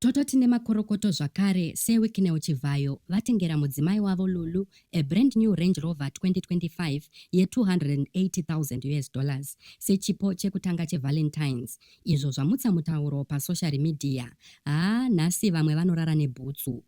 Tototi nemakorokoto zvakare Sir Wicknell Chivhayo vatengera mudzimai wavo Lulu a brand new Range Rover 2025 ye 280,000 us dollars sechipo chekutanga che Valentines izvo zvamutsa mutauro pa soshari midhiya. Haa nhasi vamwe vanorara nebhutsu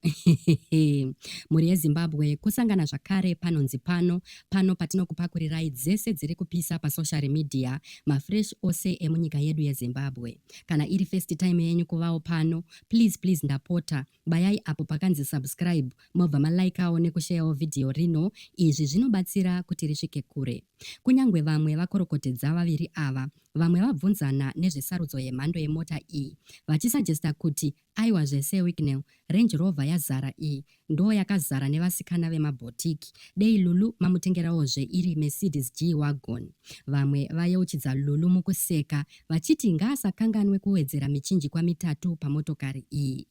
mhuri yeZimbabwe kosangana zvakare panonzi pano pano patinokupakurirai dzese dziri kupisa pa soshari midhiya mafresh ose emunyika yedu yeZimbabwe. Kana iri first time yenyu kuvawo pano, please please ndapota bayai apo pakanzi subscribe mobva malikawo nekusheyawo vhidhiyo rino. Izvi zvinobatsira kuti risvike kure. Kunyangwe vamwe vakorokotedza vaviri ava, vamwe vabvunzana nezvesarudzo yemhando yemota iyi vachisajesta kuti Aiwa zvese Wicknell, Range Rover yazara iyi ndoo yakazara nevasikana vema bhotiki. Dei Lulu mamutengerawo zve iri Mercedes G Wagon. Vamwe vayeuchidza Lulu mukuseka vachiti ngaasakanganwe kuwedzera michinjikwa mitatu pamotokari iyi.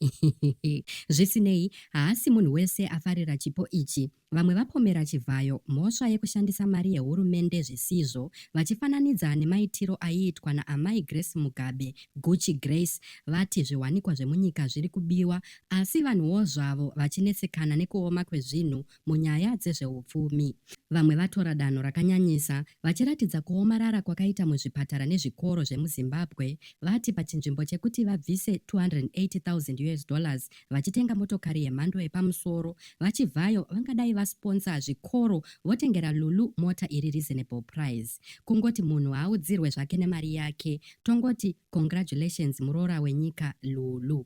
Zvisinei, haasi munhu wese afarira chipo ichi. Vamwe vapomera Chivhayo mhosva yekushandisa mari yehurumende zvisizvo vachifananidza nemaitiro aiitwa naAmai Grace Mugabe, Gucci Grace, vati zviwanikwa zvemunyika zviri kubiwa asi vanhuwo zvavo vachinetsekana nekuoma kwezvinhu munyaya dzezvehupfumi. Vamwe vatora danho rakanyanyisa Vachiratidza kuomarara kwakaita muzvipatara nezvikoro zvemuZimbabwe, vati pachinzvimbo chekuti vabvise 280,000 us dollars vachitenga motokari yemhando yepamusoro, VaChivhayo vangadai vasponsa zvikoro votengera Lulu mota iri reasonable price. Kungoti munhu haaudzirwe zvake nemari yake, tongoti congratulations muroora wenyika Lulu.